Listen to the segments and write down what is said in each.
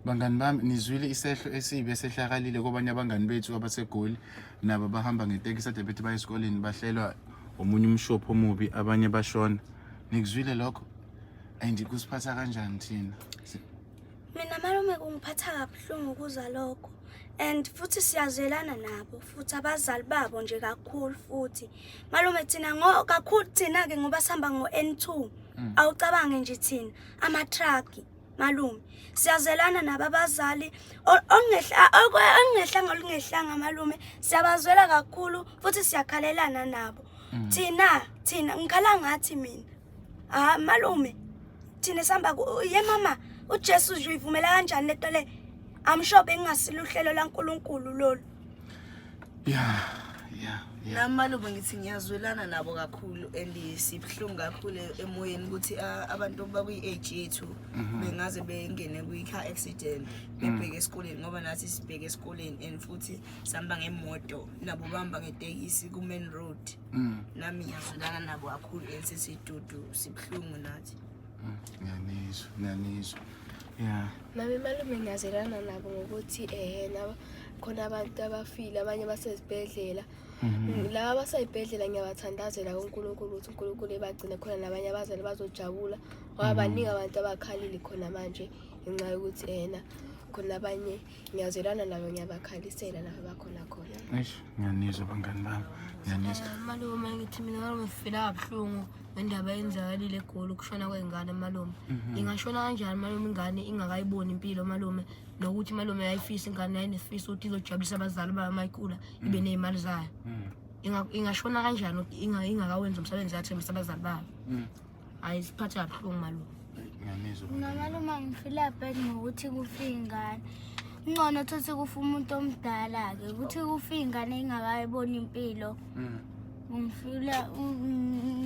Bangani bami nizwile isehlo esibi esehlakalile kobanye abangani bethu abasegoli nabo bahamba ngetekisi ade bethi baye esikoleni bahlelwa omunye umshophi omubi abanye bashona nikuzwile lokho and kusiphatha kanjani thina mina malume kungiphatha kabuhlungu ukuzwa lokho and futhi siyazwelana nabo futhi abazali babo nje kakhulu futhi malume thina ngo kakhulu thina-ke ngoba sihamba ngo-n two mm. awucabange nje thina ama-truck malume siyazelana nabo abazali okungehlanga olungehlanga malume siyabazwela kakhulu futhi siyakhalelana nabo mm. thina thina ngikhala ngathi mina ha malume thina sihamba ye mama ujesu uzoyivumela kanjani le nto le amshobe engasiluhlelo lankulunkulu lolu Yeah, yeah, yeah. Nami malume ngithi ngiyazwelana nabo kakhulu and sibuhlungu kakhulu emoyeni ukuthi ah, abantu bakwi-age yethu Mhm. bengaze bengene kwi-car accident Mm. bebheke esikoleni ngoba nathi sibheke esikoleni and futhi sihamba ngemoto nabo bahamba ngetekisi ku-main road Mm. nami ngiyazwelana nabo kakhulu and sesidudu sibuhlungu nathi Ngiyanizwa, ngiyanizwa. Yeah. Mama malume ngiyazwelana nabo ngokuthi eh nabo khona abantu abafile abanye basezibhedlela. Mhm. Laba abasayibhedlela ngiyabathandazela kuNkulunkulu ukuthi uNkulunkulu ebagcine khona nabanye abazali bazojabula. Ngoba Mhm. baningi abantu abakhalile khona manje ngenxa yokuthi ena khona abanye ngiyazwelana nabo ngiyabakhalisela lapho bakhona khona eish ngiyanizwa bangani bami ngiyanizwa eh, malume ngithi mina malume ngifila kabuhlungu ngendaba yenzakalile egoli ukushona kwey'ngane malume mhm. ingashona kanjani malume ingane ingakayiboni impilo malume nokuthi malume yayifisa ingane yayinefisa ukuthi izojabulisa abazali bayo uma ikhula mhm. ibe ney'mali zayo mhm. ingashona kanjani ingakawenzi umsebenzi yathembisa abazali bayo Hayi siphatha kabuhlungu malume. Ngiyamizwa. Mina malume ngifile bad ngokuthi kufe ingane. Ngcono thothi kufa umuntu omdala ke ukuthi kufe ingane ingakayiboni impilo. Mm. Ngifile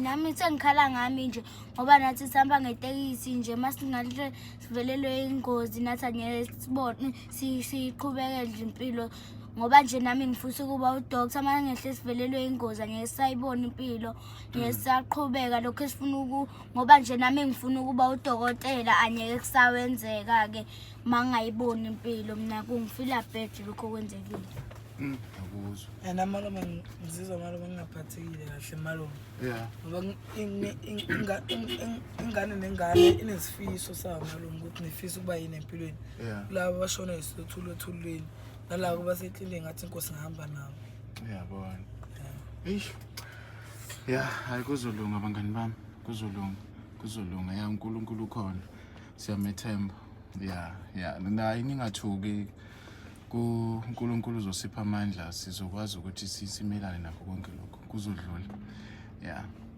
nami sengikhala ngami nje ngoba nathi sihamba ngetekisi nje masingahle sivelelwe ingozi nathi angeke sibone siqhubeke nje impilo ngoba nje nami ngifisa ukuba udoctor uma ngehle sivelelwe ingozi angeke sayibona impilo ngesaqhubeka lokho esifuna uku ngoba nje nami ngifuna ukuba udokotela anyeke kusawenzeka ke mangayiboni impilo mina kungifila bad lokho kwenzekile mm, akuzwa and amaloma ngizizwa maloma ngingaphathekile kahle maloma yeah ngoba ingane nengane inesifiso sayo maloma ukuthi nifisa ukuba yini empilweni kulabo bashona isothulo othulweni nalabo baseklile ngathi inkosi ngihamba nabo uyabona eish ya hayi kuzolunga bangani bami kuzolunga kuzolunga ya unkulunkulu ukhona siyamethemba ya ya naye ningathuki unkulunkulu uzosipha amandla sizokwazi ukuthi simelane nakho konke lokho kuzodlula ya